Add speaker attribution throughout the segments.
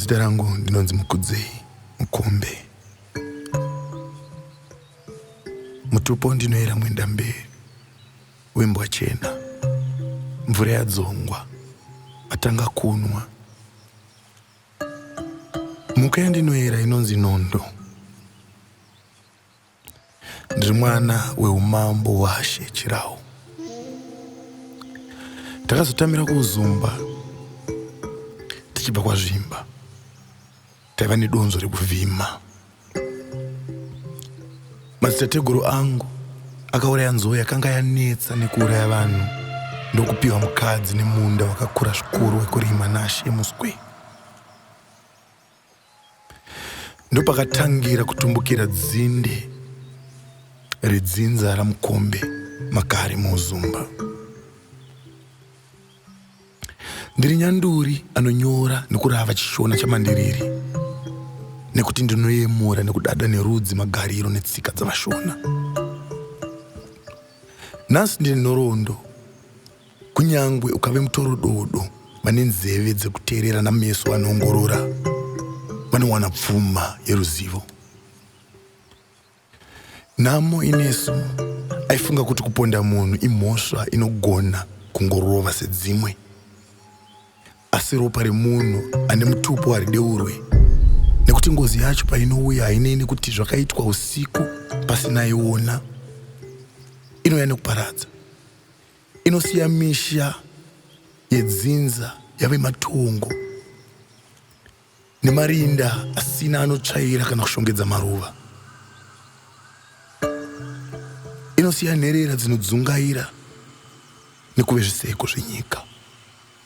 Speaker 1: zita rangu ndinonzi mukudzei mukombe mutupo ndinoyera mwenda mberi wembwa chena mvura yadzongwa atanga kunwa mhuka yandinoyera inonzi nondo Ndiri mwana weumambo washe Chirau. Takazotamira kuZumba tichibva kwaZvimba. Taiva nedonzo rekuvhima. Madzitateguru angu akauraya nzou yakanga yanetsa nekuuraya vanhu ndokupiwa mukadzi nemunda wakakura zvikuru wekurima naShe Muswe. ndopakatangira kutumbukira dzinde redzinza ramukombe makare muuzumba ndiri nyanduri anonyora nekurava chishona chamandiriri nekuti ndinoyemura nekudada nerudzi magariro netsika dzavashona nhasi ndine nhoroondo Kunyangwe ukave mutorododo, vane nzeve dzekuteerera nameso anoongorora vanowana pfuma yeruzivo. Nhamo inesu aifunga kuti kuponda munhu imhosva inogona kungorova sedzimwe, asi ropa remunhu ane mutupo harideurwe nekuti ngozi yacho painouya hainei nekuti zvakaitwa usiku pasinaiona inouya nekuparadza. inosiya misha yedzinza yave matongo nemarinda asina anotsvaira kana kushongedza maruva inosiya nherera dzinodzungaira nekuve zviseko zvenyika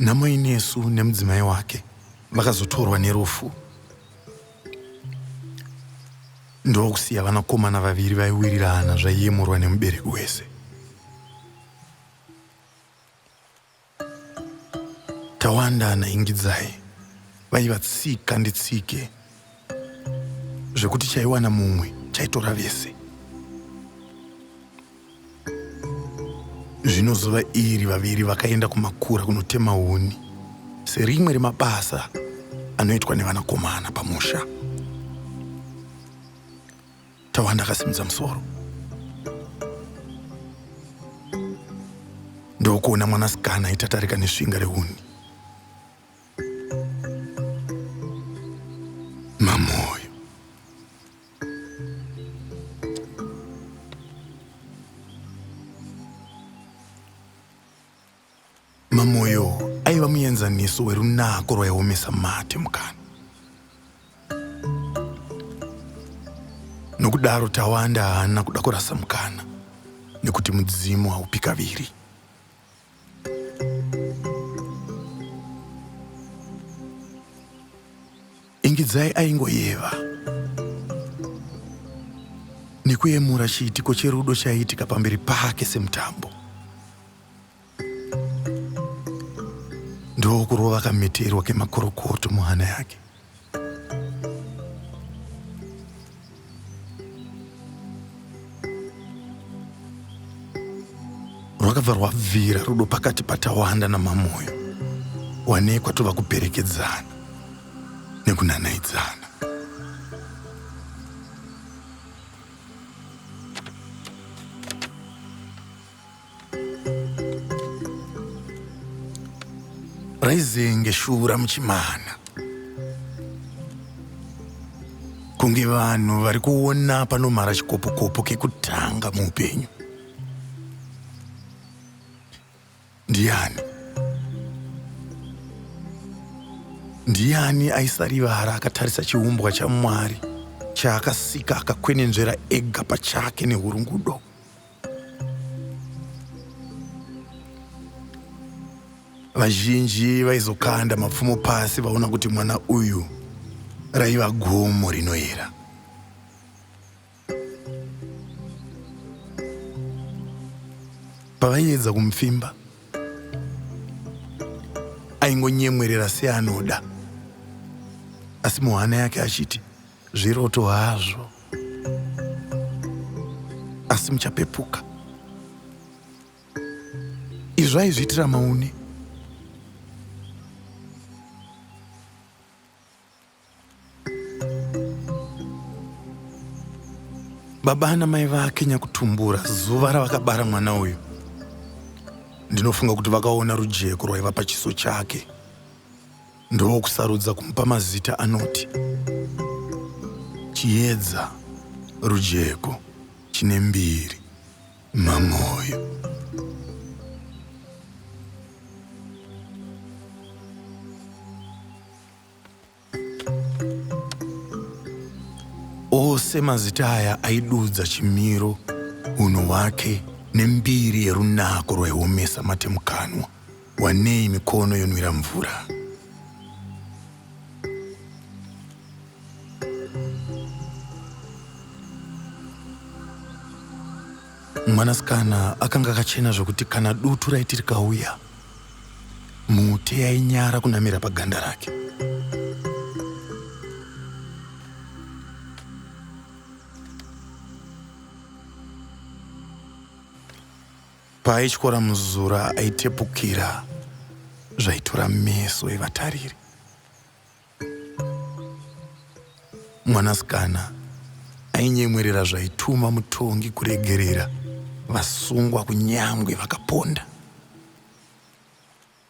Speaker 1: Namainesu nemudzimai wake vakazotorwa nerufu ndokusiya vanakomana vaviri vaiwirirana zvaiyemurwa nemubereki wese Tawanda naIngidzai vaiva tsika nditsike zvekuti chaiwana mumwe chaitora vese. Zvino zuva iri vaviri vakaenda kumakura kunotema huni serimwe remabasa anoitwa nevanakomana pamusha. Tawanda akasimudza musoro ndokuona mwanasikana aitatarika nesvinga rehuni. Mamoyo. Mamoyo aiva muenzaniso werunako rwaiomesa mate mukana. Nokudaro Tawanda haana kuda kurasa mukana nekuti mudzimu haupi kaviri. Ingidzai aingoyeva nekuyemura chiitiko cherudo chaiitika pamberi pake semutambo. ndokurova kameterwa kemakorokoto muhana yake rwakabva rwabvira rudo pakati patawanda namamoyo wanekwa tova kuperekedzana nekunanaidzana raizenge shungu ramuchimana kunge vanhu vari kuona panomhara chikopokopo kekutanga muupenyu ndiani ndiani aisarivara akatarisa chiumbwa chamwari chaakasika akakwenenzvera ega pachake nehurungudo vazhinji vaizokanda mapfumo pasi vaona kuti mwana uyu raiva gomo rinoera pavaiedza kumupfimba aingonyemwerera seanoda asi muhana yake achiti Zviroto hazvo, asi muchapepuka. Izvo aizviitira maune. Baba ana mai vake nyakutumbura zuva ravakabara mwana uyu, ndinofunga kuti vakaona rujeko rwaiva pachiso chake. Ndokusarudza kumupa mazita anoti Chiedza, Rujeko, Chinembiri, Mamoyo. Ose mazita aya aidudza chimiro, hunhu hwake nembiri yerunako rwaihomesa matemukanwa. Wanei mikono yonwira mvura. Mwanasikana akanga akachena zvokuti kana dutu raiti rikauya, mhute yainyara kunamira paganda rake. Paaityora muzura aitepukira zvaitura meso evatariri. Mwanasikana ainyemwerera zvaituma mutongi kuregerera vasungwa kunyangwe vakaponda.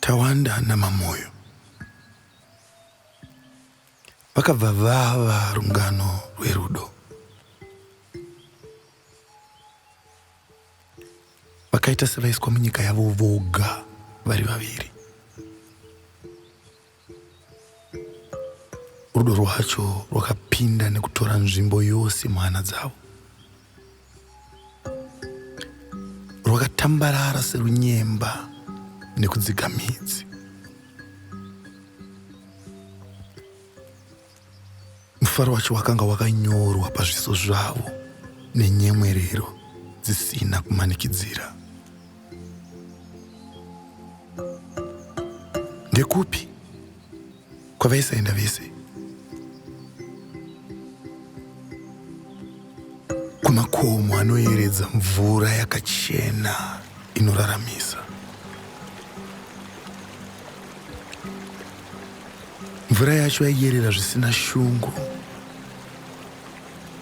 Speaker 1: Tawanda naMamoyo vakabva vava rungano rwerudo. Vakaita sevaiswa munyika yavo voga vari vaviri. Rudo rwacho rwakapinda nekutora nzvimbo yose muhana dzavo. Rwakatambarara serunyemba nekudzika midzi. Mufaro wacho wakanga wakanyorwa pazviso zvavo nenyemwerero dzisina kumanikidzira. Ndekupi kwavaisaenda vese? Kumakomo anoyeredza mvura yakachena inoraramisa. Mvura yacho yaiyerera zvisina shungu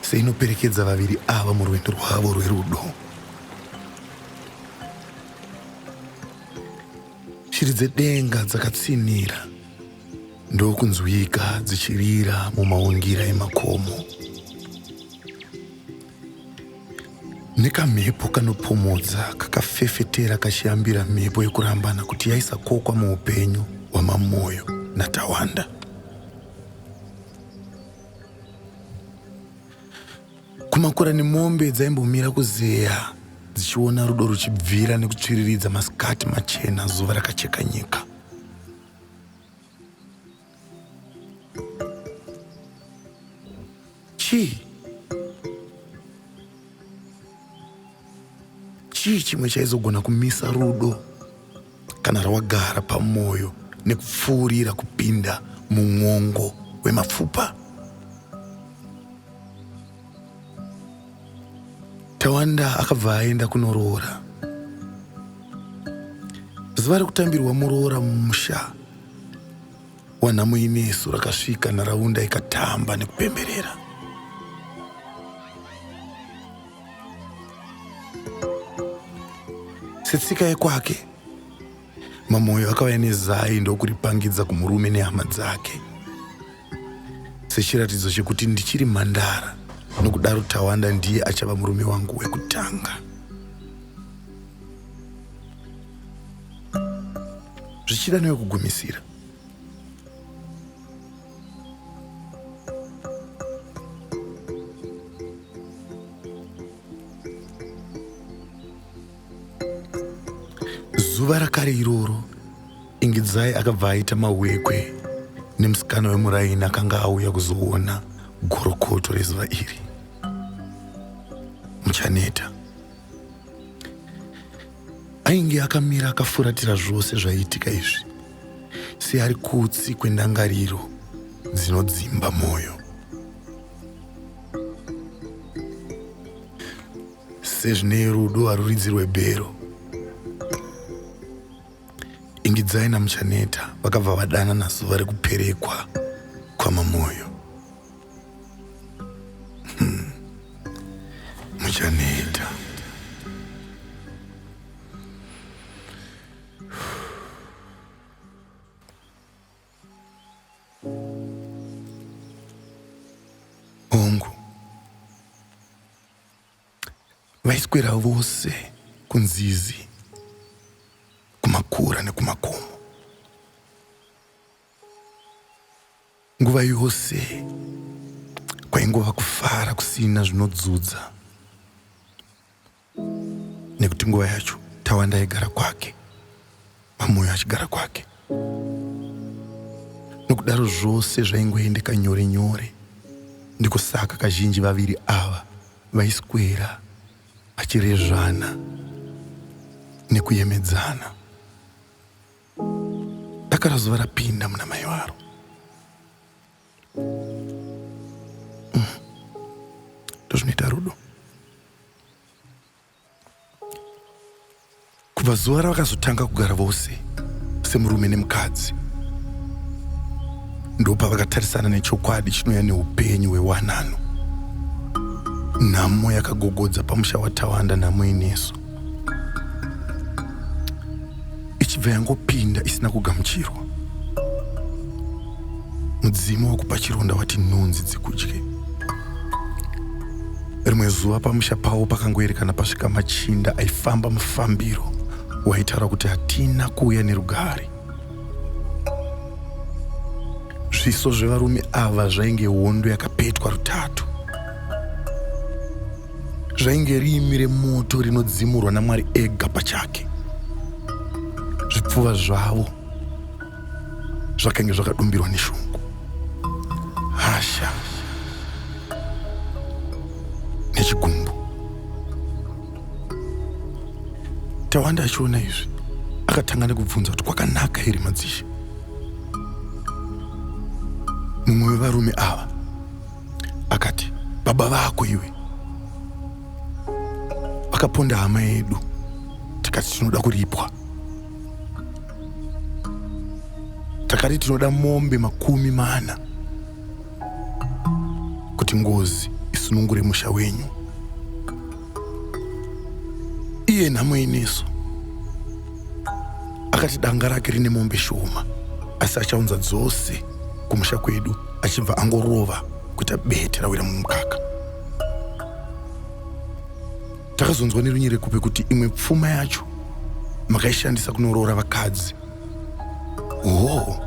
Speaker 1: seinoperekedza vaviri ava murwendo rwavo rwerudo. Shiri dzedenga dzakatsinhira ndokunzwika dzichirira mumaungira emakomo. Nekamhepo kanopomodza kakafefetera kachiyambira mhepo yekurambana kuti yaisakokwa muupenyu hwaMamoyo naTawanda. Kumakura nemombe dzaimbomira kuzeya dzichiona rudo ruchibvira nekutsviriridza masikati machena zuva rakacheka nyika. chii chii chimwe chaizogona kumisa rudo kana rawagara pamwoyo nekupfuurira kupinda mumwongo wemapfupa Tawanda akabva aenda kunoroora. Zuva rekutambirwa muroora mumusha wanhamo inesu rakasvika nharaunda ikatamba nekupemberera. Setsika yekwake Mamoyo akauya nezai ndokuripangidza kumurume nehama dzake sechiratidzo chekuti ndichiri mhandara nokudaro Tawanda ndiye achava murume wangu wekutanga. Zvichida newekugumisira zuva rakare iroro ingidzai akabva aita mawekwe nemusikana wemuraini akanga auya kuzoona gorokoto rezuva iri muchaneta ainge akamira akafuratira zvose zvaiitika izvi seari kutsi kwendangariro dzinodzimba mwoyo sezvine rudo haruridzi rwebhero ingidzai namuchaneta vakabva vadana nazuva rekuperekwa kwamamoyo hmm. muchaneta hongu Vaiswera vose kunzizi, kumakura nekumakomo. Nguva yose kwaingova kufara kusina zvinodzudza nekuti nguva yacho Tawanda aigara kwake. Mamoyo achigara kwake nokudaro zvose zvaingoendeka nyore nyore ndiko saka kazhinji vaviri ava vaiswera vachirezvana nekuyemedzana dakara zuva rapinda muna mai varo mm. ndozvinoita rudo kubva zuva ravakazotanga kugara vose semurume nemukadzi ndopavakatarisana nechokwadi chinouya neupenyu hwewanano nhamo yakagogodza pamusha watawanda nhamo inesu ichibva yangopinda isina kugamuchirwa mudzimu wakupa chironda wati nhunzi dzikudye rimwe zuva pamusha pavo pakangoerekana pasvika machinda aifamba mufambiro waitaura kuti hatina kuuya nerugare zviso zvevarume ava zvainge hondo yakapetwa rutatu zvainge riimi remoto rinodzimurwa namwari ega pachake zvipfuva zvavo zvakange zvakadumbirwa neshungu hasha nechigumbu tawanda achiona izvi akatanga nekubvunza kuti kwakanaka here madzishe mumwe wevarume ava akati baba vako iwe vakaponda hama yedu tikati tinoda kuripwa takati tinoda mombe makumi mana kuti ngozi isunungure musha wenyu iye nhamo inesu akati danga rake rine mombe shoma asi achaunza dzose kumusha kwedu achibva angorova kuita bete rawira mumukaka takazonzwa nerunyere kupe kuti imwe pfuma yacho makaishandisa kunoroora vakadzi hoo oh.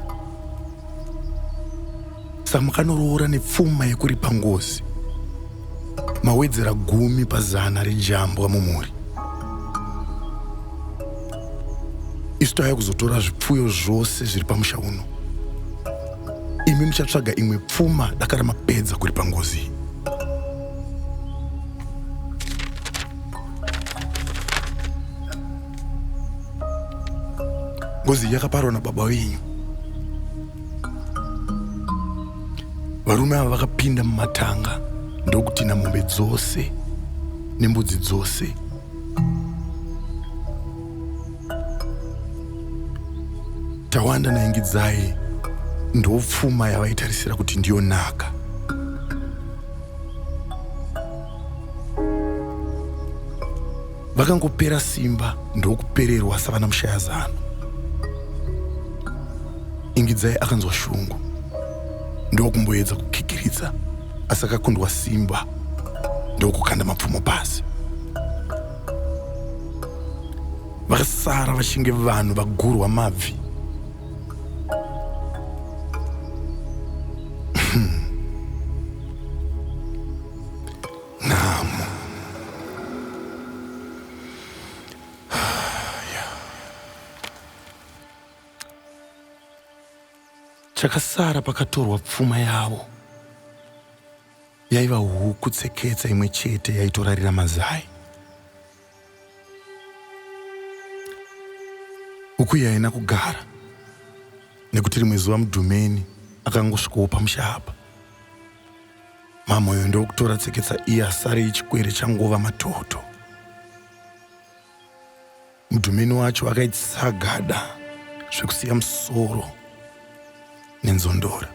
Speaker 1: samukanoroora nepfuma yekuripa ngozi mawedzera gumi pazana rejambwa mumhuri isu tauya kuzotora zvipfuyo zvose zviri pamusha uno imi muchatsvaga imwe pfuma daka ramapedza kuri pangozi iyi ngozi iyi yakaparwa nababa wenyu varume ava vakapinda mumatanga ndokutinha mombe dzose nembudzi dzose tawanda naingidzai ndopfuma yavaitarisira kuti ndiyo naka vakangopera simba ndokupererwa savana mushayazano ingidzai akanzwa shungu ndokumboedza kukikiridza asi akakundwa simba ndokukanda mapfumo pasi vakasara vachinge vanhu vagurwa mabvi Nhamo. Chakasara pakatorwa pfuma yavo yaiva huku tseketsa imwe chete yaitorarira mazai. Ukuyi haina kugara nekuti rimwe zuva mudhumeni akangosvikowo pamusha apa. Mamoyo ndokutora tseketsa iye asare yechikwere changova matoto. Mudhumeni wacho akaitisa gada zvekusiya musoro nenzondora.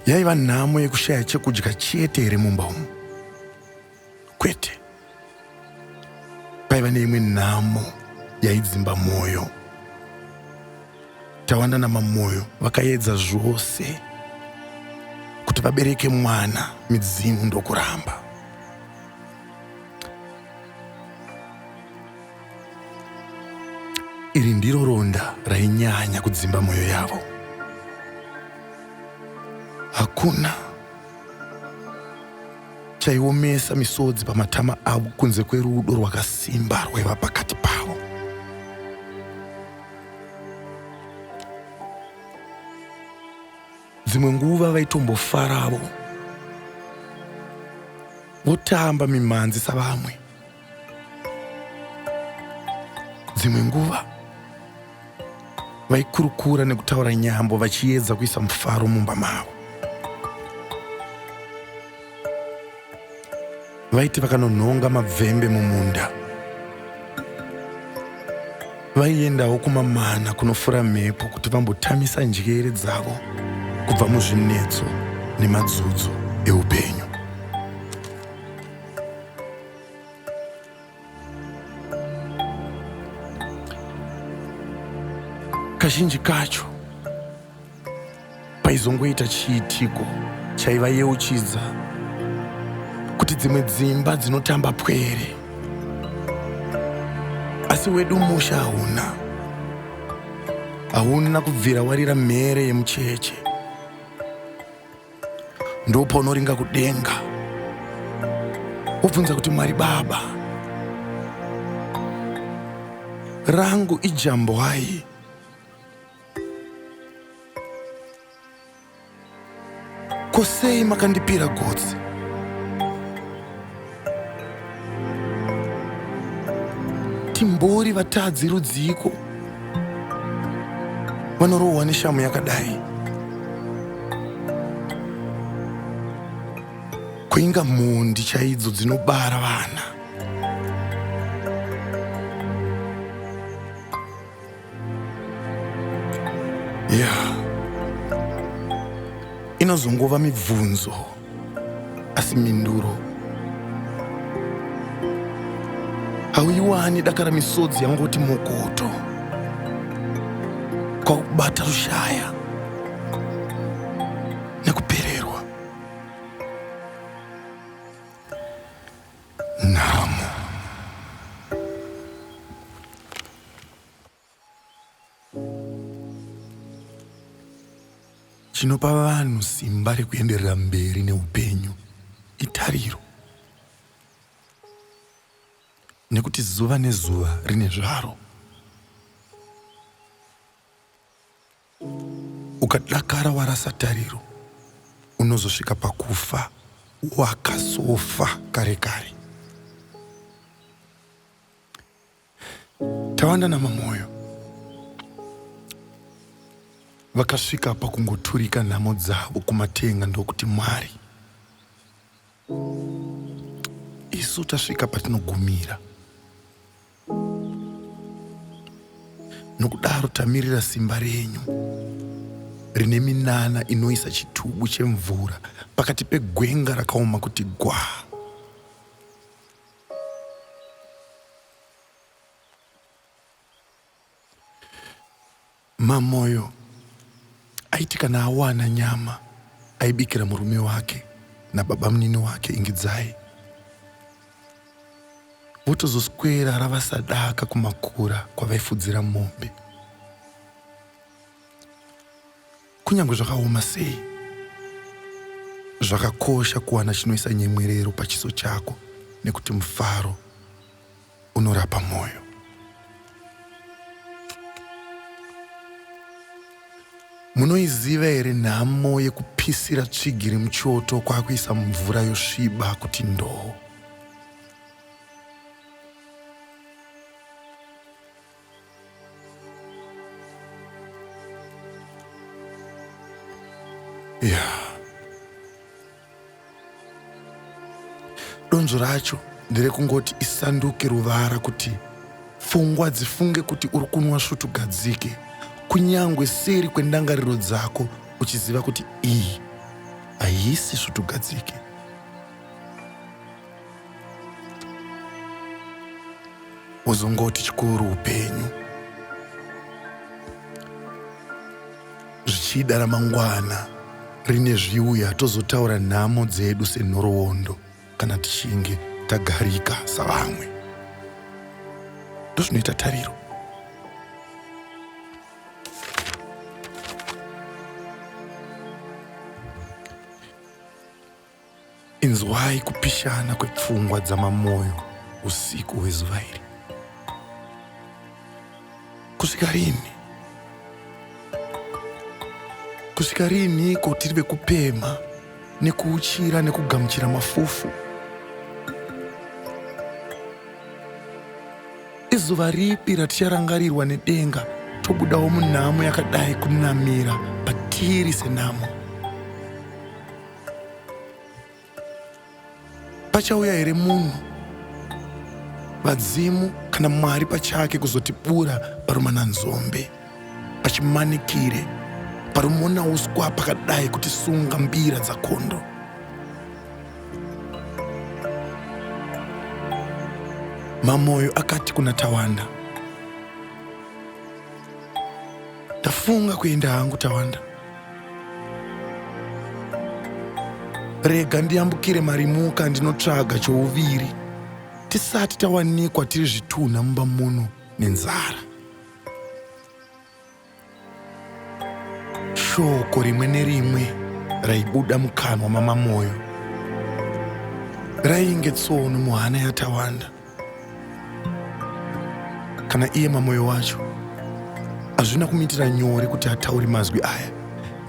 Speaker 1: yaiva nhamo yekushaya chekudya chete here mumba umu kwete paiva neimwe nhamo yaidzimba mwoyo tawanda namamwoyo vakaedza zvose kuti vabereke mwana midzimu ndokuramba Iri ndiro ronda rainyanya kudzimba mwoyo yavo. Hakuna chaiomesa misodzi pamatama avo kunze kwerudo rwakasimba rwaiva pakati pavo. Dzimwe nguva vaitombofaravo votamba mimhanzi savamwe. dzimwe nguva vaikurukura nekutaura nyambo vachiedza kuisa mufaro mumba mavo vaiti vakanonhonga mabvembe mumunda vaiendawo kumamana kunofura mhepo kuti vambotamisa njere dzavo kubva muzvinetso nemadzudzo eupenyu kazhinji kacho paizongoita chiitiko chaivayeuchidza kuti dzimwe dzimba dzinotamba pwere asi wedu musha hauna hauna kubvira warira mhere yemucheche ndopaunoringa kudenga wobvunza kuti mwari baba rangu ijambwai kosei makandipira gotsi timbori vatadzi rudziiko vanorohwa neshamu yakadai kuinga mhondi chaidzo dzinobara vana Yeah. Inozongova mibvunzo asi minduro hauiwani dakara misodzi yangoti mokoto kwakubata rushaya nhamo. Chinopa vanhu simba rekuenderera mberi neupenyu itariro, nekuti zuva nezuva rine zvaro. Ukadakara warasa tariro, unozosvika pakufa wakasofa kare kare. Tawanda naMamoyo vakasvika pakungoturika nhamo dzavo kumatenga ndokuti Mwari, isu tasvika patinogumira. Nokudaro tamirira simba renyu rine minana inoisa chitubu chemvura pakati pegwenga rakaoma kuti gwaa. Mamoyo aiti kana awana nyama aibikira murume wake nababamunini wake Ingidzai votozoswera ravasadaka kumakura kwavaifudzira mombe. Kunyange zvakaoma sei, zvakakosha kuwana chinoisa nyemwerero pachiso chako nekuti mufaro unorapa mwoyo. Munoiziva here nhamo yekupisira tsvigiri muchoto kwakuisa mvura yosviba kuti ndoo? Yeah. donzvo racho nderekungoti isanduke ruvara kuti pfungwa dzifunge kuti uri kunwa svutugadzike kunyange seri kwendangariro dzako uchiziva kuti iyi haisi svutugadzike uzongoti chikuru upenyu zvichida ramangwana rine zviuya tozotaura nhamo dzedu senhoroondo kana tichinge tagarika savamwe ndozvinoita tariro Inzwai kupishana kwepfungwa dzamamoyo usiku hwezuva iri. Kusvika rini? Kusvika rini ko tiri vekupemha nekuuchira nekugamuchira mafufu? Izuva ripi raticharangarirwa nedenga tobudawo munhamo yakadai kunamira patiri senhamo? Pachauya here munhu vadzimu kana Mwari pachake kuzotibura parumana nzombe pachimanikire parumona uswa pakadai kuti sunga mbira dzakondo Mamoyo akati kuna Tawanda ndafunga kuenda hangu tawanda rega ndiyambukire marimuka ndinotsvaga chouviri tisati tawanikwa tiri zvitunha mumba muno nenzara shoko rimwe nerimwe raibuda mukanwa mamamoyo rainge tsono muhana yatawanda kana iye mamoyo wacho hazvina kumuitira nyore kuti ataure mazwi aya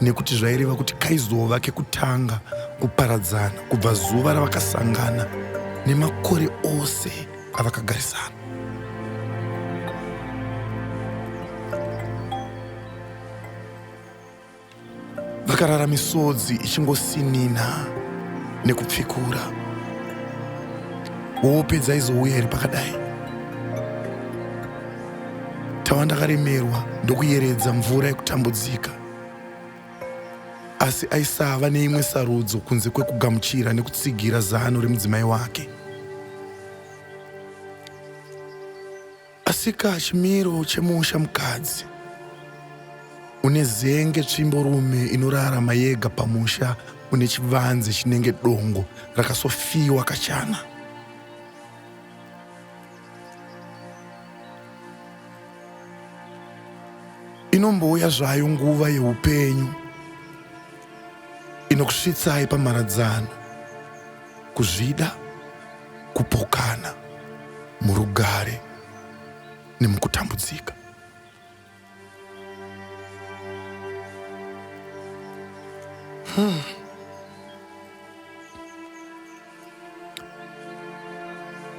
Speaker 1: nekuti zvaireva kuti kaizova kekutanga kuparadzana kubva zuva ravakasangana nemakore ose avakagarisana Vakarara misodzi ichingosinina nekupfikura. Hope dzaizouya iri pakadai. Tawanda akaremerwa ndokuyeredza mvura yekutambudzika. Asi aisava neimwe sarudzo kunze kwekugamuchira nekutsigira zano remudzimai wake. Asika chimiro chemusha mukadzi une zenge tsvimbo rume inorarama yega pamusha une chivanze chinenge dongo rakasofiwa kachana inombouya zvayo nguva yeupenyu inokusvitsai pamharadzano Kuzvida, kupokana, murugare nemukutambudzika. Hmm.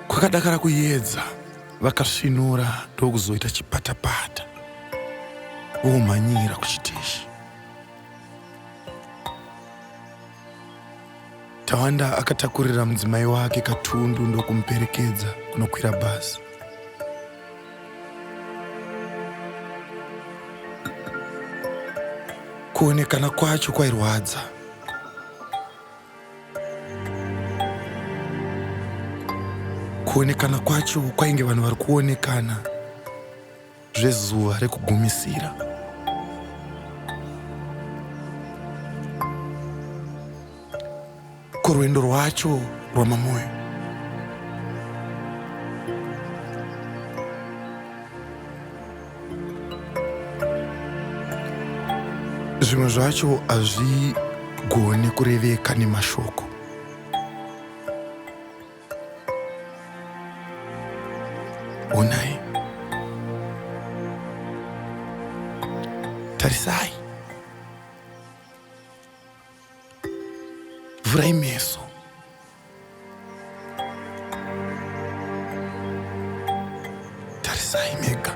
Speaker 1: Kwakadakara kuyedza vakasvinura ndokuzoita chipatapata vomhanyira kuchiteshi Tawanda akatakurira mudzimai wake katundu ndokumuperekedza kunokwira bhazi. Kuonekana kwacho kwairwadza. Kuonekana kwacho kwainge vanhu vari kuonekana. zvezuva rekugumisira. Kurwendo rwacho rwamamoyo zvimwe zvacho hazvigoni kureveka nemashoko Onai. Tarisai. Vhurai meso. Tarisai mega.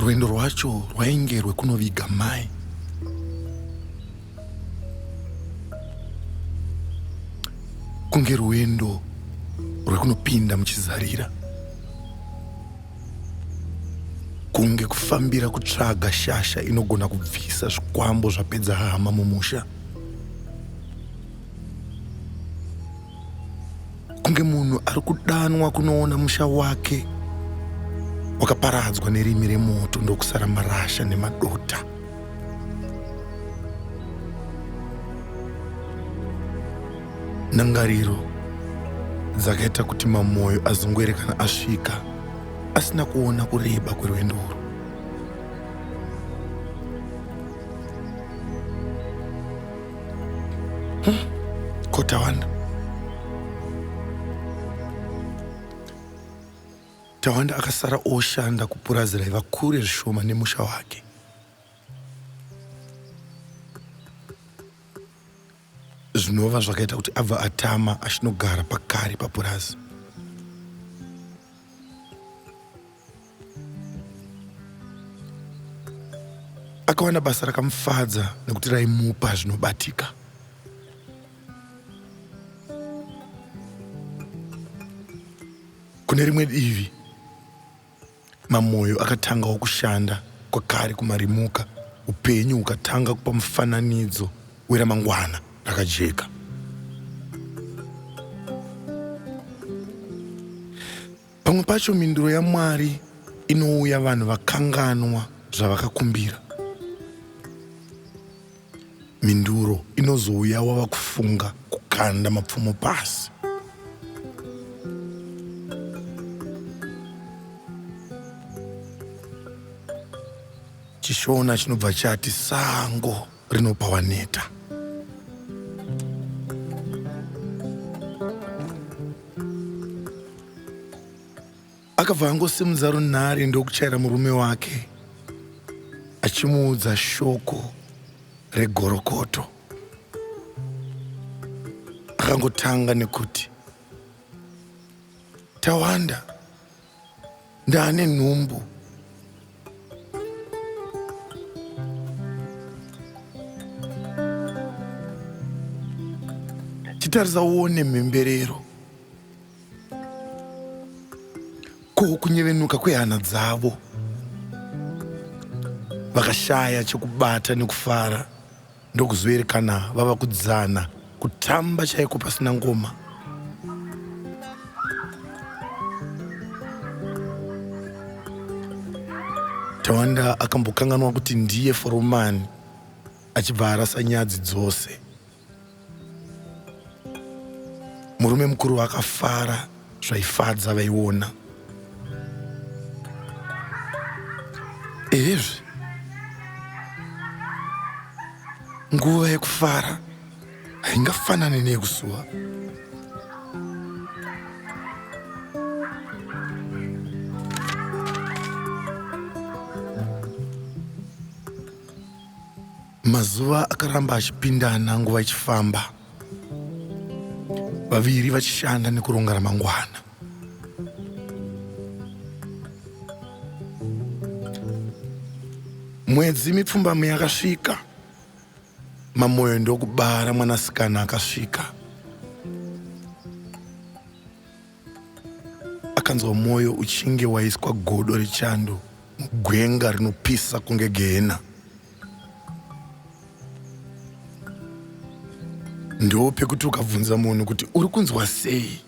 Speaker 1: rwendo rwacho rwainge rwekunoviga mai kunge rwendo rwekunopinda muchizarira kunge kufambira kutsvaga shasha inogona kubvisa zvikwambo zvapedza hama mumusha kunge munhu ari kudanwa kunoona musha wake wakaparadzwa nerimi remoto ndokusara marasha nemadota Ndangariro dzakaita kuti Mamoyo azungwere kana asvika asina kuona kureba kwerwendo urwu. Kotawanda. Tawanda akasara oshanda kupurazi raiva kure zvishoma nemusha wake. zvinova zvakaita kuti abva atama achinogara pakare papurazi akawana basa rakamufadza nekuti raimupa zvinobatika kune rimwe divi Mamoyo akatangawo kushanda kwakare kumarimuka, upenyu hukatanga kupa mufananidzo weramangwana rakajeka. Pamwe pacho mhinduro yaMwari inouya vanhu vakanganwa zvavakakumbira. Mhinduro inozouya wava kufunga kukanda mapfumo pasi. Chishona chinobva chati sango rinopa waneta. Akabva angosimudza runhare ndokuchaira murume wake achimuudza shoko regorokoto. Akangotanga nekuti Tawanda ndaane nhumbu chitarisa uone mhemberero ko kunyevenuka kwehana dzavo vakashaya chekubata nekufara ndokuzoerekana vava kudzana kutamba chaiko pasina ngoma tawanda akambokanganwa kuti ndiye foromani achibva arasa nyadzi dzose Murume mukuru vakafara zvaifadza vaiona. Ehezve, nguva yekufara haingafanane neyekusuwa. Mazuva akaramba achipindana nguva ichifamba vaviri vachishanda nekuronga ramangwana. Mwedzi mipfumbamwe yakasvika, Mamoyo ndokubara mwanasikana akasvika. akanzwa mwoyo uchinge waiswa godo rechando mugwenga rinopisa kunge gehena ndo pekuti ukabvunza munhu kuti uri kunzwa sei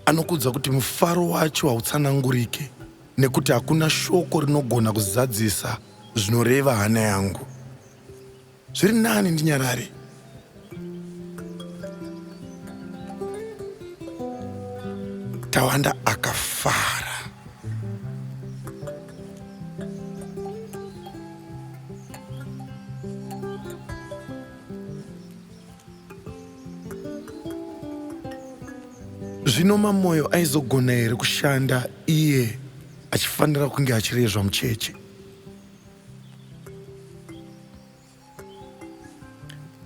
Speaker 1: anokuudza kuti mufaro wacho hautsanangurike nekuti hakuna shoko rinogona kuzadzisa zvinoreva hana yangu zviri nani ndinyarare tawanda akafara zvino mamoyo aizogona here kushanda iye achifanira kunge achirezva mucheche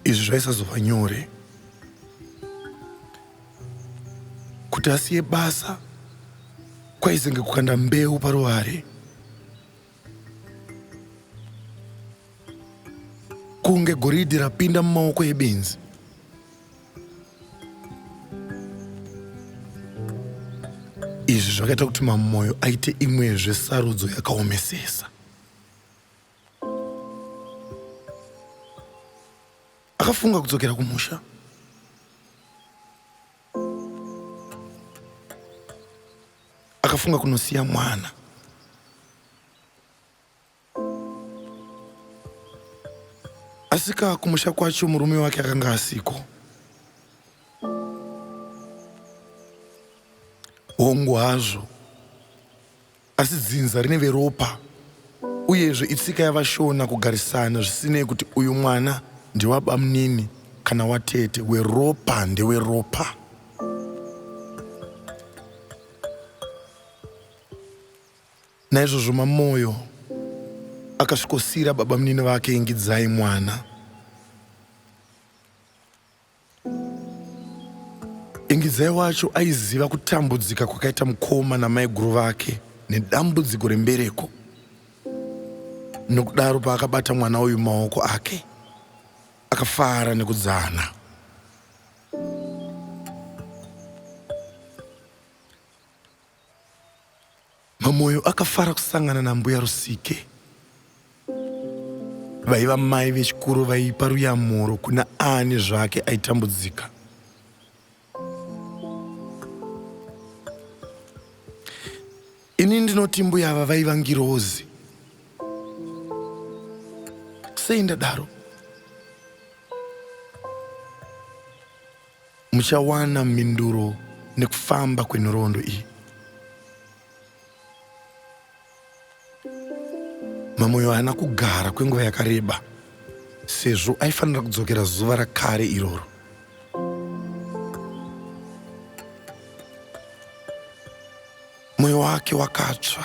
Speaker 1: izvi zvaisazova nyore kuti asiye basa kwaizenge kukanda mbeu paruware kunge goridhi rapinda mumaoko ebenzi izvi zvakaita kuti mamoyo aite imwezve sarudzo yakaomesesa akafunga kudzokera kumusha akafunga kunosiya mwana asika kumusha kwacho murume wake akanga asiko hongu hazvo Asi dzinza rine veropa uyezve itsika yavaShona kugarisana zvisinei kuti uyu mwana ndewabamnini kana watete, weropa ndeweropa. Naizvozvo Mamoyo akasvikosiira babamnini vake Ingidzai mwana. Ingidzai wacho aiziva kutambudzika kwakaita mukoma namaiguru vake nedambudziko rembereko. Nokudaro paakabata mwana uyu maoko ake, akafara nekudzana. Mamoyo akafara kusangana nambuya Rusike vaiva mai vechikuru vaipa ruyamuro kuna ani zvake aitambudzika. Ini ndinoti mbuya ava vaiva ngirozi. Sei ndadaro? Muchawana mhinduro nekufamba kwenhoroondo iyi. Mamoyo haana kugara kwenguva yakareba sezvo aifanira kudzokera zuva rakare iroro. Moyo wake wakatsva.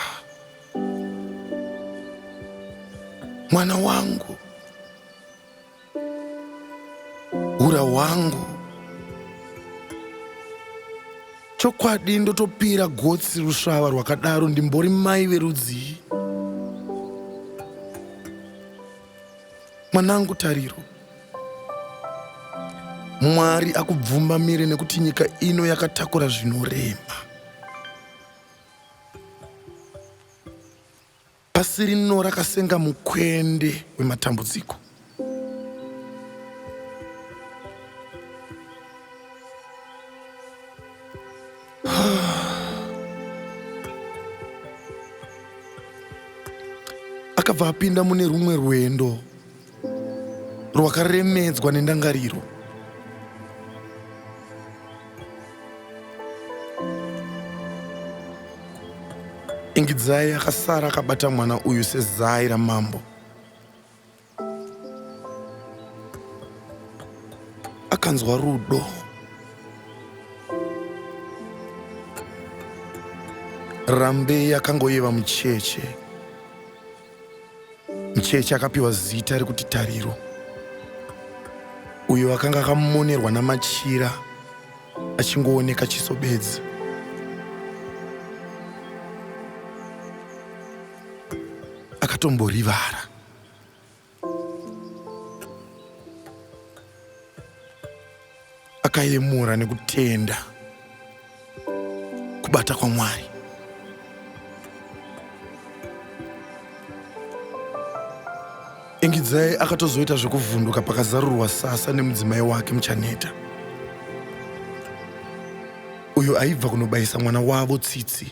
Speaker 1: Mwana wangu ura wangu chokwadi ndotopira gotsi rusvava rwakadaro ndimbori mai verudzii mwanangu tariro mwari akubvumba mire nekuti nyika ino yakatakura zvinorema Pasi rino rakasenga mukwende wematambudziko. Akabva apinda mune rumwe rwendo. rwakaremedzwa nendangariro ingidzai akasara akabata mwana uyu sezai ramambo akanzwa rudo rambei akangoyeva mucheche Mcheche akapiwa zita rekuti Tariro, uyo akanga akamonerwa namachira achingooneka chiso bedzi. Akatomborivara. Akayemura nekutenda kubata kwaMwari. Ingidzai akatozoita zvekuvhunduka pakazarurwa sasa nemudzimai wake Muchaneta, uyo aibva kunobayisa mwana wavo tsitsi.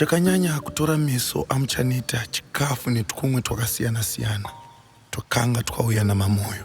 Speaker 1: chakanyanya kutora meso amuchaneta chikafu netwumwe twakasiyana-siyana twakanga twauya namamoyo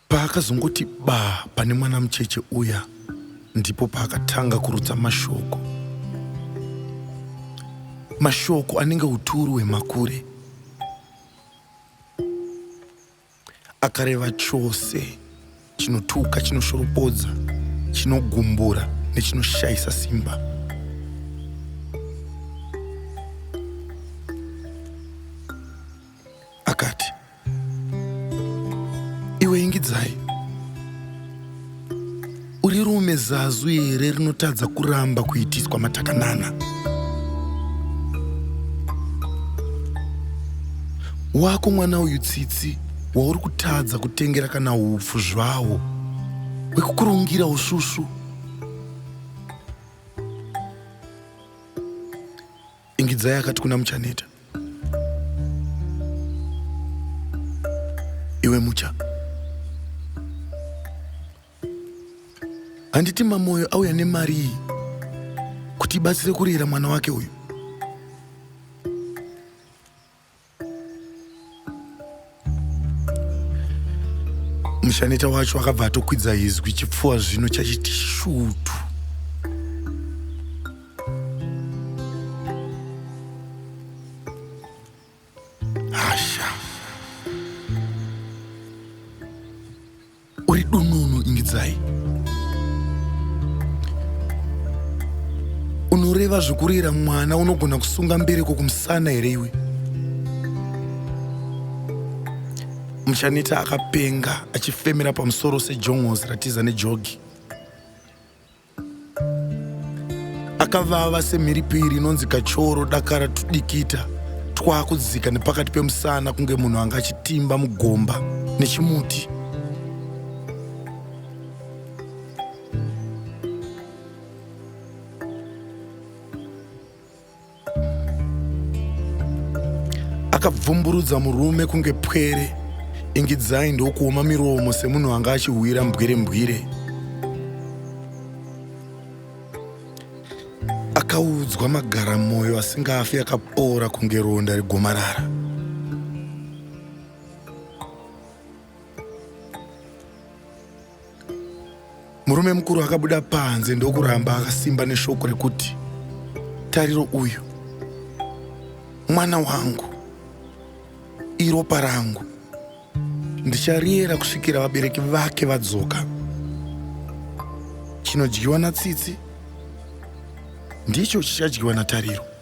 Speaker 1: Paakazongoti baa pane mwana mucheche uya ndipo paakatanga kurutsa mashoko. Mashoko anenge uturu hwemakure. Akareva chose chinotuka, chinoshoropodza, chinogumbura nechinoshayisa simba. Akati, iwe ingidzai uri rume zazu here rinotadza kuramba kuitiswa matakanana wako mwana uyu tsitsi wauri kutadza kutengera kana upfu zvawo wekukurungira usvusvu Ingidzai akati kuna Muchaneta. Iwe Mucha. Handiti Mamoyo auya nemari iyi kuti ibatsire kurera mwana wake uyu. mushaneta wacho akabva atokwidza izwi chipfuwa zvino chachiti shutu Uri dununu Ingidzai. Unoreva zvekurera mwana unogona kusunga mbereko kumusana here iwe? Muchaneta akapenga achifemera pamusoro sejongozi ratiza nejogi. akavava semhiripiri inonzi kachoro dakara tudikita twakudzika nepakati pemusana kunge munhu anga achitimba mugomba nechimuti akabvumburudza murume kunge pwere ingidzai ndokuoma miromo semunhu anga achihwira mbwire mbwire akaudzwa magara mwoyo asingafi akapoora kunge ronda regomarara Murume mukuru akabuda panze ndokuramba akasimba neshoko rekuti tariro uyu mwana wangu iropa rangu ndichariera kusvikira vabereki vake vadzoka chinodyiwa natsitsi ndicho chichadyiwa natariro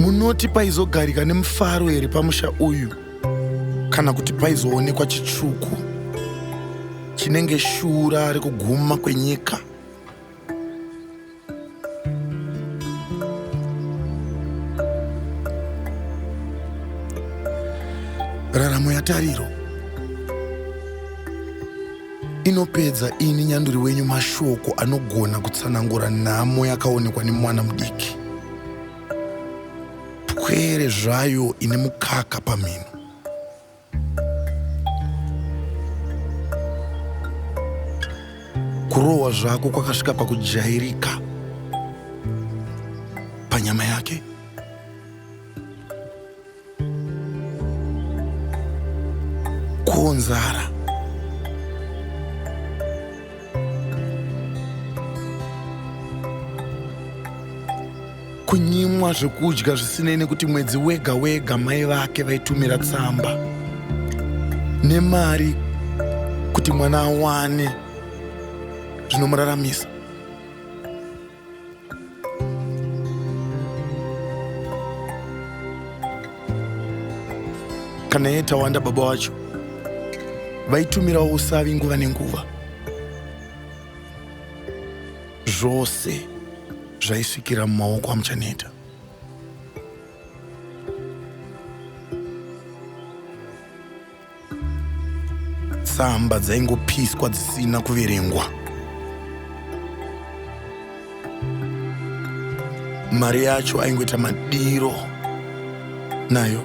Speaker 1: munoti paizogarika nemufaro here pamusha uyu kana kuti paizoonekwa chitsvuku chinenge shura rekuguma kwenyika raramo yatariro inopedza ini nyanduri wenyu mashoko anogona kutsanangura nhamo yakaonekwa nemwana mudiki pwere zvayo ine mukaka pamhino kurohwa zvako kwakasvika pakujairika panyama yake Kuonzara. Kunyimwa zvekudya zvisinei nekuti mwedzi wega wega mai vake vaitumira tsamba nemari kuti mwana awane zvinomuraramisa. kana iye tawanda baba wacho vaitumirawo usavi nguva nenguva zvose zvaisvikira mumaoko amuchaneta tsamba dzaingopiswa dzisina kuverengwa mari yacho aingoita madiro nayo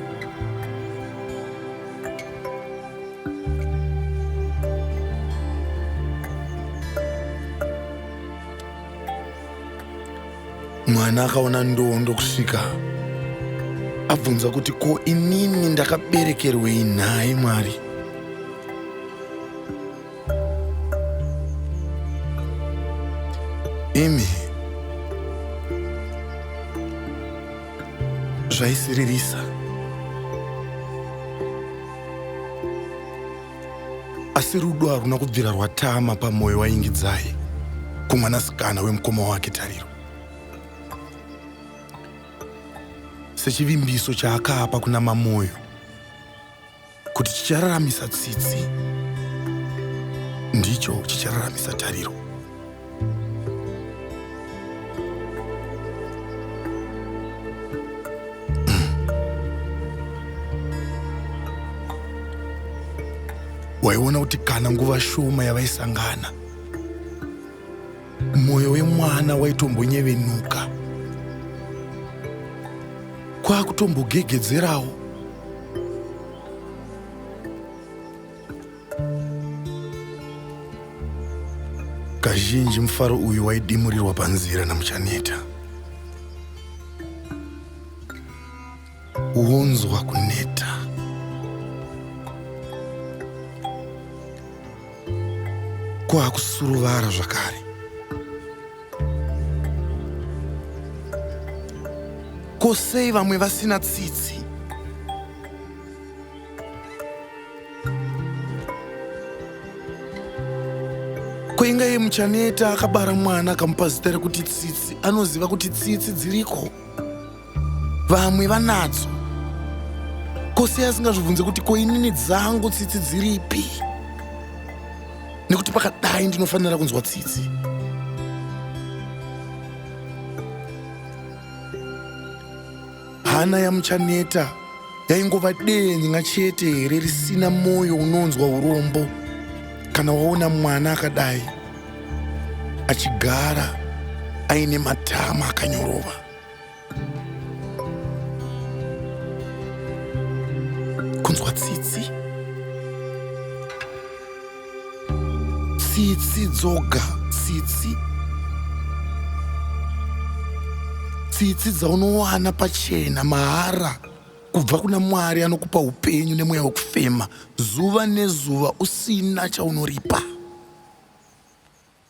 Speaker 1: mwana akaona ndoo ndokusvika abvunza kuti ko inini ndakaberekerwei nhai mwari imi zvaisiririsa asi rudo haruna kubvira rwatama pamwoyo waingidzai kumwanasikana wemukoma wake tariro sechivimbiso chaakapa kuna mamoyo kuti chichararamisa tsitsi ndicho chichararamisa tariro waiona kuti kana nguva shoma yavaisangana mwoyo wemwana waitombonyevenuka kwakutombogegedzerawo Kazhinji mufaro uyu waidimurirwa panzira naMuchaneta. Wonzwa kuneta. Kwakusuruvara zvakare. Ko sei vamwe vasina tsitsi? ko inga iye muchaneta akabara mwana akamupa zita rekuti tsitsi anoziva kuti tsitsi dziriko vamwe vanadzo ko sei asingazvibvunze kuti ko inini dzangu tsitsi dziripi nekuti pakadai ndinofanira kunzwa tsitsi Hana yaMuchaneta yaingova denga chete here risina moyo unonzwa urombo kana waona mwana akadai achigara aine matama akanyorova kunzwa tsitsi tsitsi dzoga tsitsi tsitsi dzaunowana pachena mahara kubva kuna mwari anokupa upenyu nemweya wekufema zuva nezuva usina chaunoripa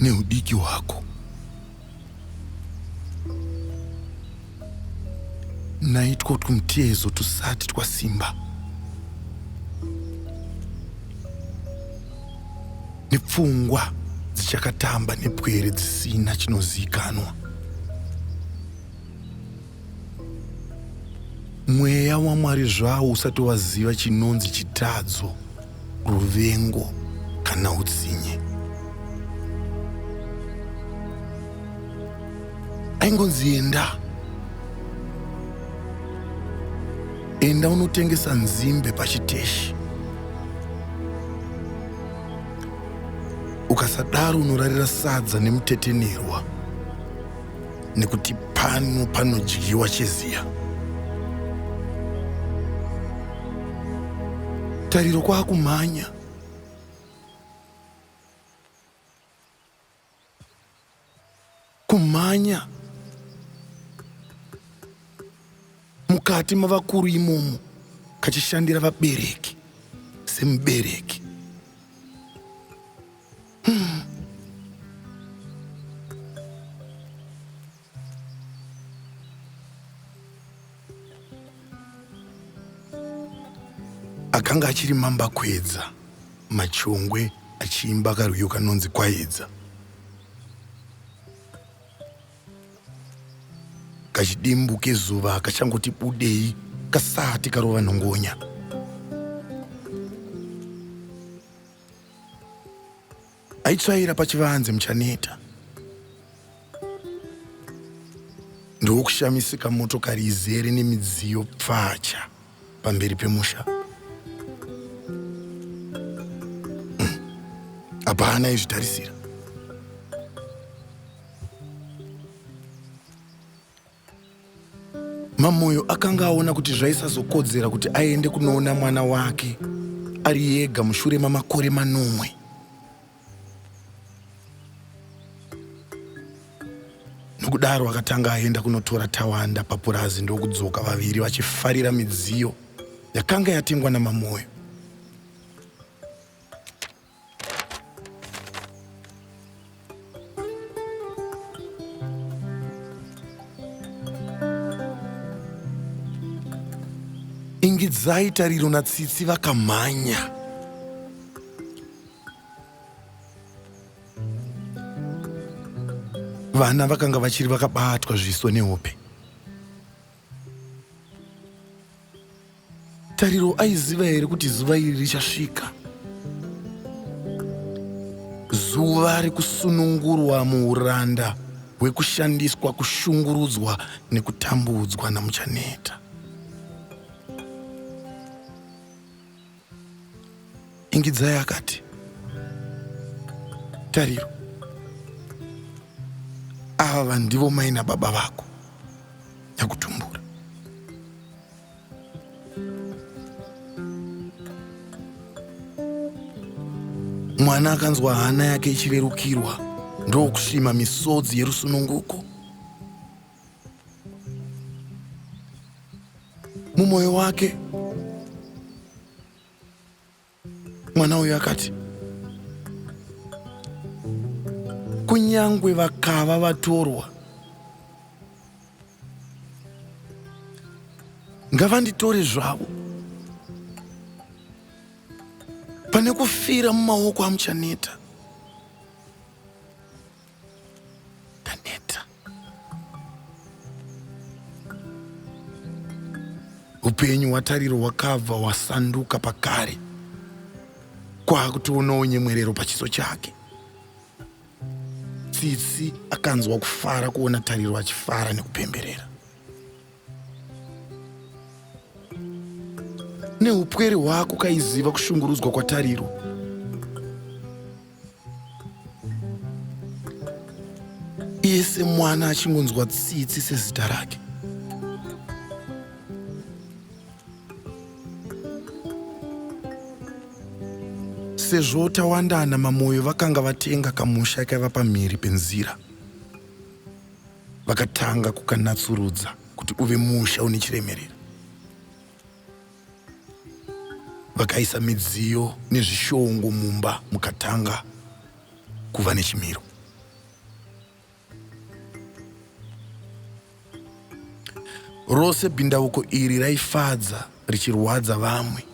Speaker 1: neudiki hwako. Naitwo twumutiezo tusati twasimba nepfungwa dzichakatamba nepwere dzisina chinoziikanwa. Mweya waMwari zvawo usati waziva chinonzi chitadzo, ruvengo kana utsinye. Aingonzi enda. Enda unotengesa nzimbe pachiteshi. Ukasadaro unorarira sadza nemutetenerwa. nekuti pano panodyiwa cheziya tariro kwakumhanya kumhanya mukati mavakuru imomo kachishandira vabereki semubereki akanga achiri mamba kwedza machongwe achiimba karwiyo kanonzi kwaedza kachidimbu kezuva kachangoti budei kasati karova nhongonya aitsvaira pachivanze muchaneta ndokushamisika motokari izere nemidziyo pfacha pamberi pemusha hmm. hapana izvitarisira Mamoyo akanga aona kuti zvaisazokodzera kuti aende kunoona mwana wake ari yega mushure mamakore manomwe. Nokudaro akatanga aenda kunotora Tawanda papurazi ndokudzoka vaviri vachifarira midziyo yakanga yatengwa naMamoyo. Ingidzai Tariro naTsitsi vakamhanya. Vana vakanga vachiri vakabatwa zviso nehope. Tariro aiziva here kuti zuva iri richasvika? Zuva rekusunungurwa muuranda hwekushandiswa, kushungurudzwa nekutambudzwa naMuchaneta. Ingidzai akati, Tariro, ava ndivo mai nababa vako nyakutumbura. Mwana akanzwa hana yake ichirerukirwa ndokusvima misodzi yerusununguko. mumwoyo wake mwana uyu akati kunyangwe vakava vatorwa ngavanditore zvavo pane kufira mumaoko amuchaneta Taneta. Upenyu hwatariro hwakabva hwasanduka pakare kwaakutoonawo nyemwerero pachiso chake. Tsitsi akanzwa kufara kuona Tariro achifara nekupemberera. neupwere hwako kaiziva kushungurudzwa kwatariro iye semwana achingonzwa tsitsi sezita rake sezvo tawandana mamoyo vakanga vatenga kamusha kaiva pamhiri penzira vakatanga kukanatsurudza kuti uve musha une chiremerera vakaisa midziyo nezvishongo mumba mukatanga kuva nechimiro rose bhindauko iri raifadza richirwadza vamwe.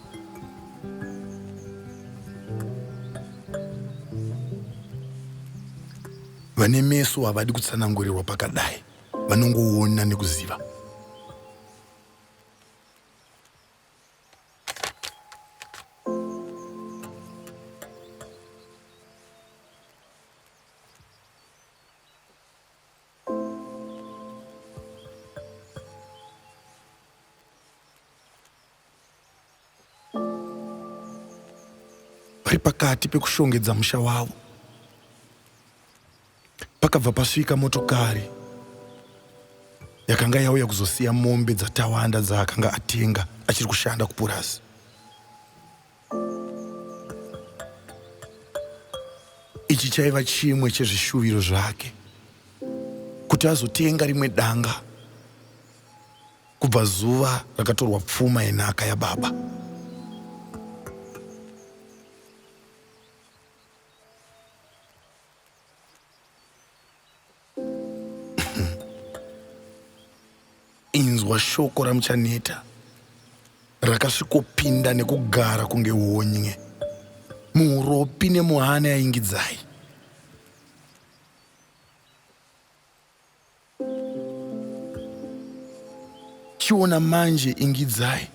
Speaker 1: Vane meso havadi kutsanangurirwa pakadai, vanongoona nekuziva. vari pakati pekushongedza musha wavo pakabva pasvika motokari yakanga yauya kuzosiya mombe dzatawanda dzaakanga atenga achiri kushanda kupurazi Ichi chaiva chimwe chezvishuviro zvake kuti azotenga rimwe danga kubva zuva rakatorwa pfuma yenhaka yababa. Inzwa shoko raMuchaneta rakasvikopinda nekugara kunge honye muuropi nemuhana yaingidzai chiona manje ingidzai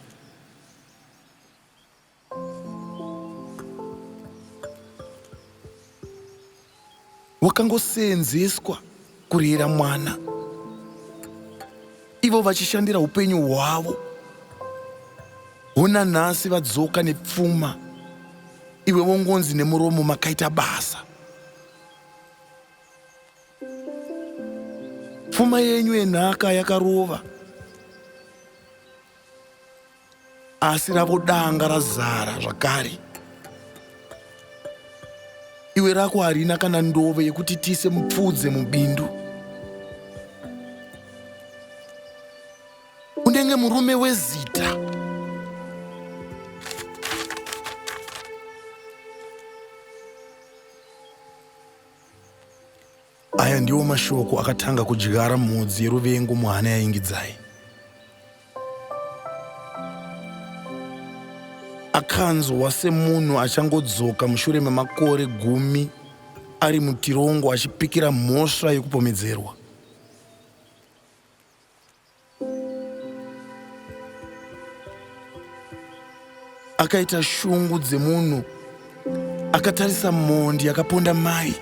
Speaker 1: wakangoseenzeswa kurera mwana ivo vachishandira upenyu hwavo hona nhasi vadzoka nepfuma iwe vongonzi nemuromo makaita basa pfuma yenyu yenhaka yakarova asi rako danga razara zvakare iwe rako harina kana ndove yekuti tiise mupfudze mubindu unenge murume wezita Aya ndiwo mashoko akatanga kudyara mhodzi yeruvengo muhana yaIngidzai. Akanzwa semunhu achangodzoka mushure memakore gumi ari mutirongo achipikira mhosva yekupomedzerwa. akaita shungu dzemunhu akatarisa mhondi yakaponda mai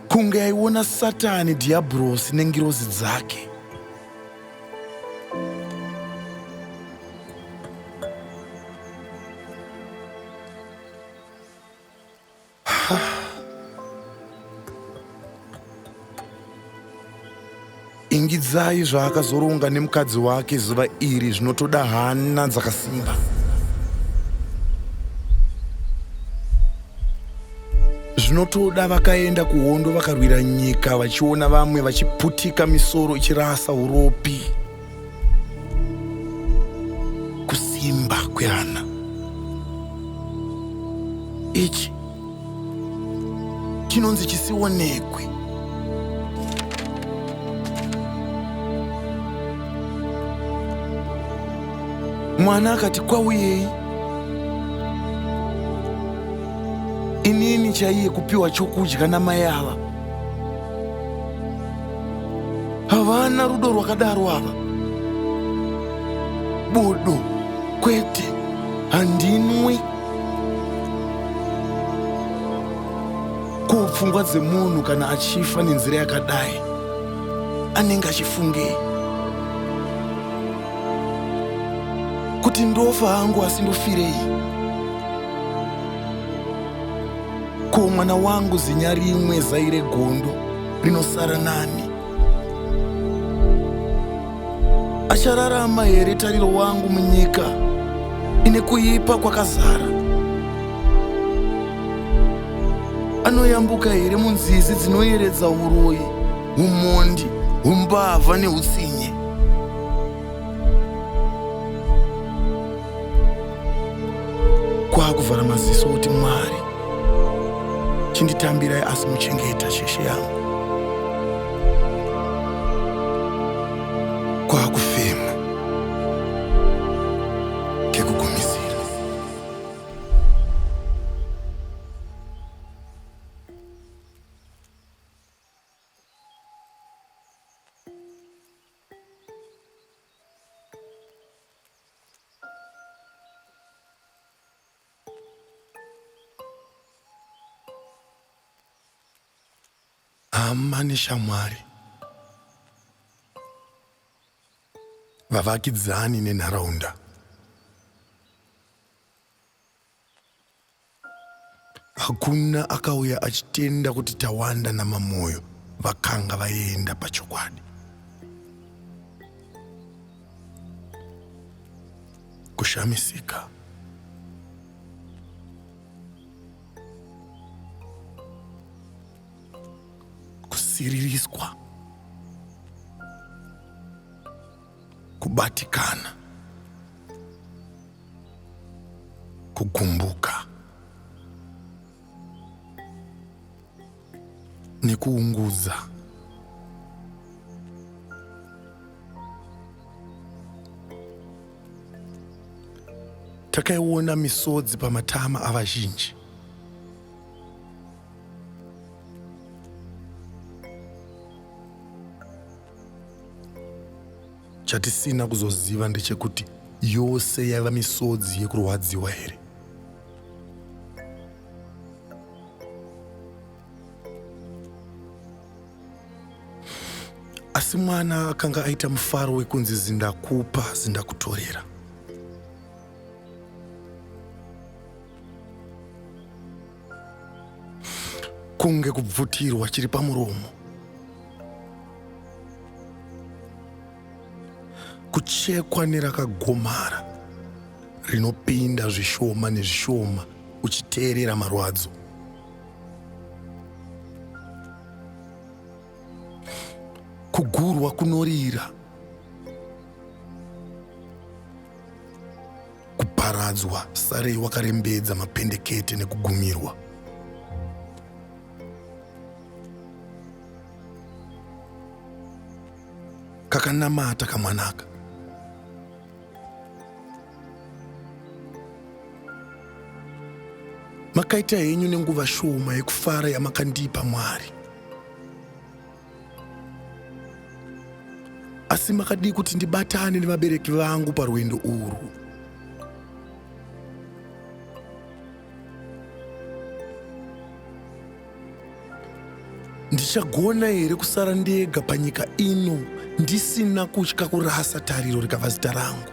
Speaker 1: kunge aiona satani dhiyabhurosi nengirozi dzake ingidzai zvaakazoronga nemukadzi wake zuva iri zvinotoda hana dzakasimba zvinotoda vakaenda kuhondo vakarwira nyika vachiona vamwe vachiputika misoro ichirasa uropi kusimba kwehana ichi chinonzi chisionekwe mwana akati kwauyei inini chaiye kupiwa chokudya namai ava havana rudo rwakadaro ava bodo kwete handinwi ko pfungwa dzemunhu kana achifa nenzira yakadai anenge achifungei kuti ndofa hangu asi ndofirei Ko mwana wangu zinya rimwe zai regondo rinosara nani? Achararama here tariro wangu munyika ine kuipa kwakazara? Anoyambuka here munzizi dzinoyeredza uroyi, umhondi, umbavha neutsinye? kwaakuvhara maziso kuti mwari chinditambirai asi muchengeta sheshe yangu kwaakufema kekugumisira hama neshamwari vavakidzani nenharaunda Hakuna akauya achitenda kuti Tawanda naMamoyo vakanga vaenda pachokwadi. Kushamisika. Kusiririswa. kubatikana, kugumbuka nekuungudza. Takaiona misodzi pamatama avazhinji. Chatisina kuzoziva ndechekuti yose yaiva misodzi yekurwadziwa here? asi mwana akanga aita mufaro wekunzi zindakupa zindakutorera kunge kubvutirwa chiri pamuromo kuchekwa nerakagomara rinopinda zvishoma nezvishoma uchiteerera marwadzo kugurwa kunorira kuparadzwa sarei wakarembedza mapendekete nekugumirwa kakanamata kamwanaka makaita henyu nenguva shoma yekufara yamakandipa mwari asi makadii kuti ndibatane nevabereki vangu parwendo urwu ndichagona here kusara ndega panyika ino ndisina kutya kurasa tariro rikava zita rangu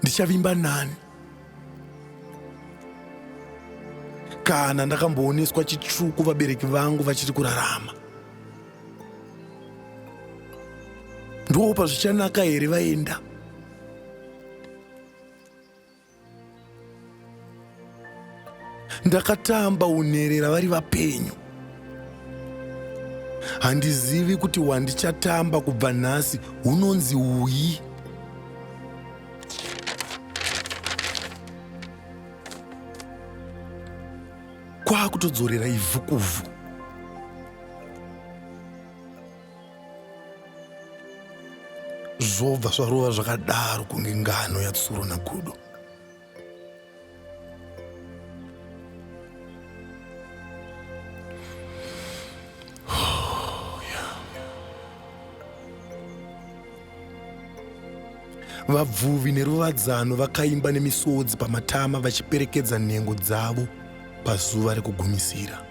Speaker 1: ndichavimba nani kana ndakambooneswa chitsvuku vabereki vangu vachiri kurarama ndoo pazvichanaka here vaenda ndakatamba unherera vari vapenyu handizivi kuti wandichatamba kubva nhasi unonzi uyi kwakutodzorera ivhu kuvhu zvobva zvarova zvakadaro kunge ngano yatsuro nagudo vabvuvi neruvadzano vakaimba nemisodzi pamatama vachiperekedza nhengo dzavo pazuva rekugumisira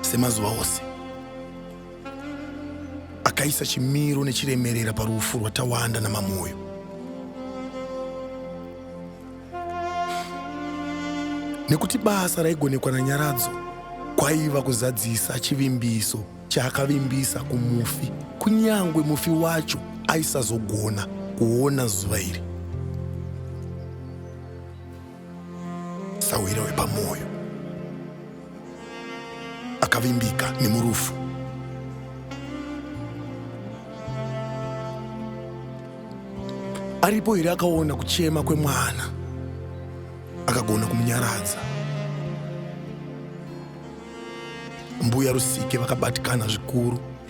Speaker 1: semazuva ose akaisa chimiro nechiremerera parufu rwatawanda namamoyo nekuti basa raigonekwa nanyaradzo kwaiva kuzadzisa chivimbiso chaakavimbisa kumufi kunyange mufi wacho aisazogona kuona zuva iri sahwira wepamwoyo akavimbika nemurufu aripo here akaona kuchema kwemwana akagona kumunyaradza mbuya rusike vakabatikana zvikuru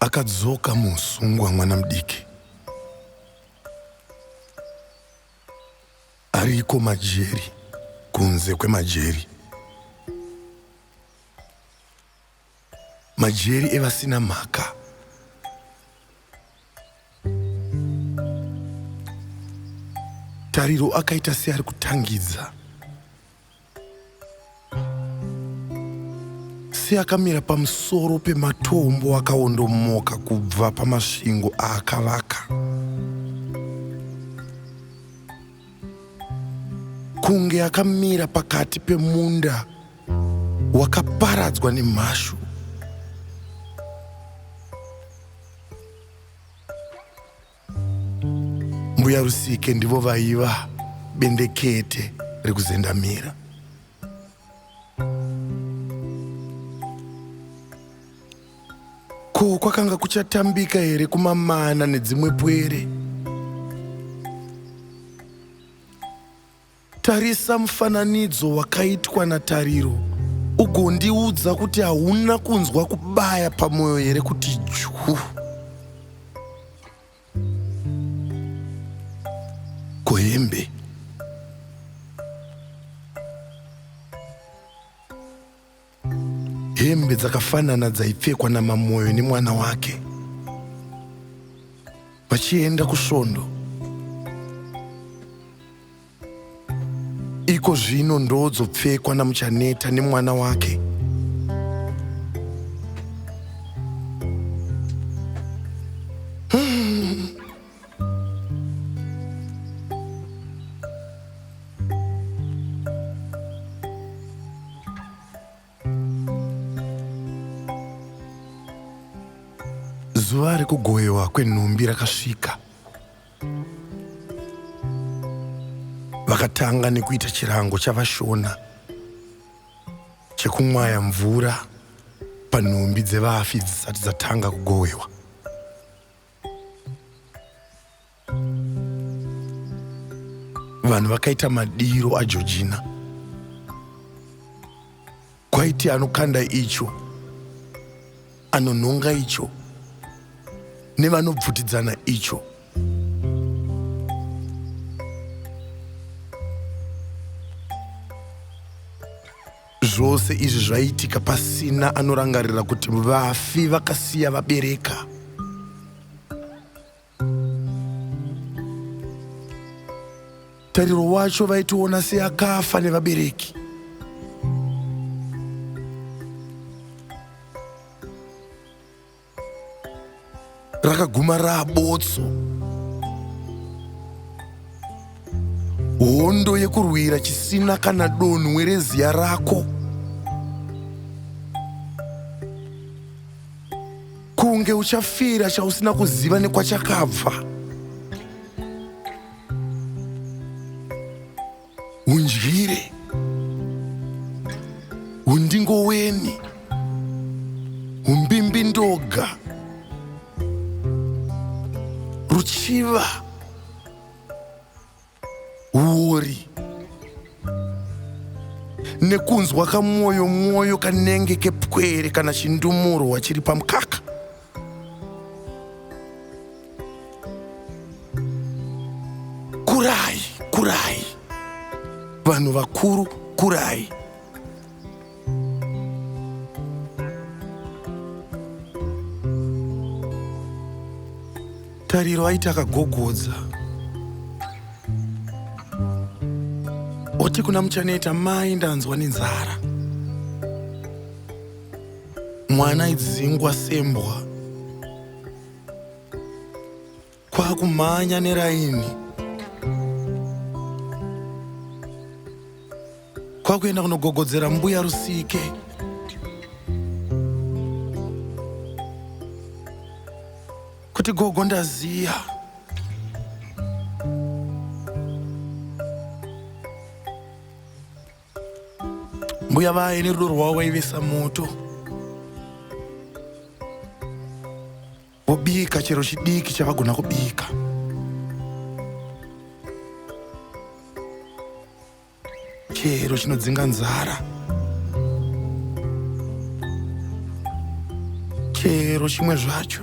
Speaker 1: akadzoka musungwa mwana mudiki ariko majeri kunze kwemajeri majeri evasina mhaka tariro akaita seari kutangidza seakamira pamusoro pematombo akaondomoka kubva pamasvingo aakavaka kunge akamira pakati pemunda wakaparadzwa nemhashu mbuya rusike ndivo vaiva bendekete rekuzendamira ko kwakanga kuchatambika here kumamana nedzimwe pwere Tarisa mufananidzo wakaitwa naTariro ugondiudza kuti hauna kunzwa kubaya pamwoyo here kuti juu. Ko hembe Hembe dzakafanana dzaipfekwa naMamoyo nemwana wake vachienda kusvondo. Iko zvino ndoodzopfekwa naMuchaneta nemwana wake. zuva rekugoyewa kwenhumbi rakasvika vakatanga nekuita chirango chavashona chekumwaya mvura panhumbi dzevafi dzisati dzatanga kugowewa vanhu vakaita madiro ajojina kwaiti anokanda icho anonhonga icho nevanobvutidzana icho Zvose izvi zvaiitika pasina anorangarira kuti vafi vakasiya vabereka. Tariro wacho vaitiona seakafa nevabereki. rakaguma rabotso hondo yekurwira chisina kana donhwe reziya rako kunge uchafira chausina kuziva nekwachakabva undyire undingoweni umbimbi ndoga ruchiva uori nekunzwa kamwoyo mwoyo kanenge kepwere kana chindumurwa chiri pamukaka kurai kurai vanhu vakuru kurai tariro aiti akagogodza oti kuna muchaneta mai ndanzwa nenzara mwana idzingwa sembwa kwakumhanya neraini kwakuenda kunogogodzera mbuya rusike kuti gogo ndaziya mbuya vaye nerudo rwavo vaivesa moto vobika chero chidiki chavagona kubika chero chinodzinga nzara chero chimwe zvacho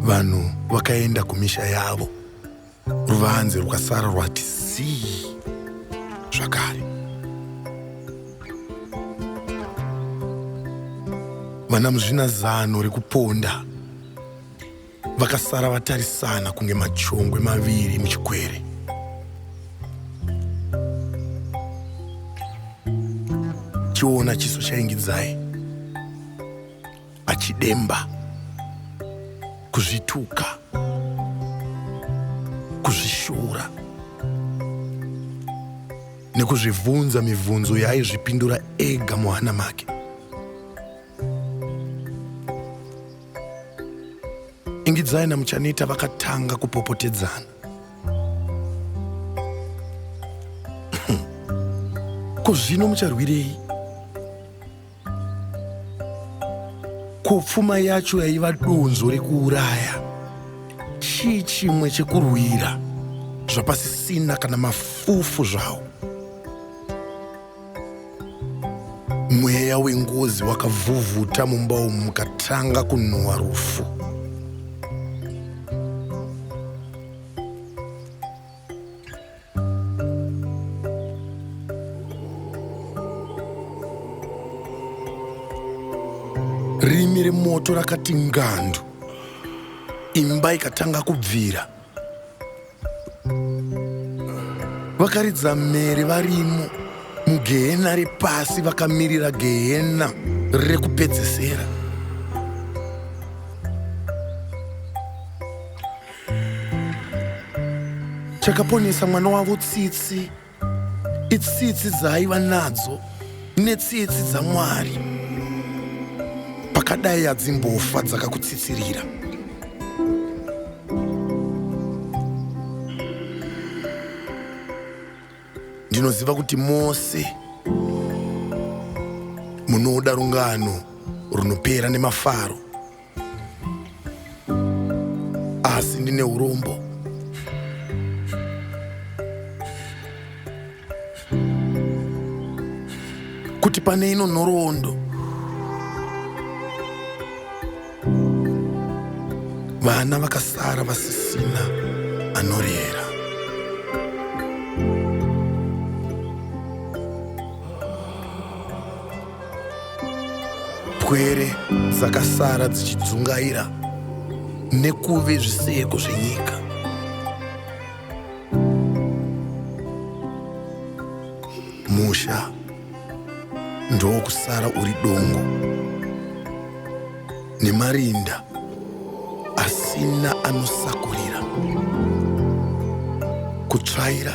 Speaker 1: vanhu vakaenda kumisha yavo ruvanze rwasara rwati zii zvakare vana muzvina zano rekuponda Vakasara vatarisana kunge machongwe maviri muchikwere. Chiona chiso chaingidzai achidemba kuzvituka kuzvishura nekuzvivhunza mivhunzo yaaizvipindura ega muhana make Ingidzai naMuchaneta vakatanga kupopotedzana. Ko zvino mucharwirei? Ko pfuma yacho yaiva donzo rekuuraya chii chimwe chekurwira zvapasisina kana mafufu zvawo? Mweya wengozi wakavhuvhuta mumba umu mukatanga kunhuwa rufu. Rimi remoto rakati ngandu, imba ikatanga kubvira. vakaridza mhere varimo mugehena repasi vakamirira gehena rekupedzesera chakaponesa mwana wavo tsitsi itsitsi dzaaiva nadzo netsitsi dzamwari pakadai adzimbofa dzakakutsitsirira ndinoziva kuti mose munoda rungano runopera nemafaro asi ndine urombo kuti pane ino nhoroondo vana vakasara vasisina anorera pwere dzakasara dzichidzungaira nekuve zviseko zvenyika musha ndokusara uri dongo nemarinda asina anosakurira kutsvaira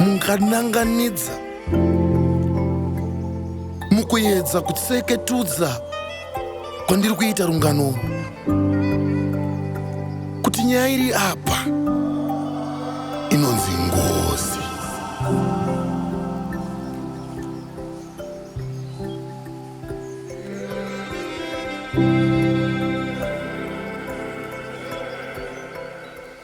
Speaker 1: mungananganidza mukuedza kutseketudza kwandiri kuita rungano kuti nyaya iri apa inonzi ngozi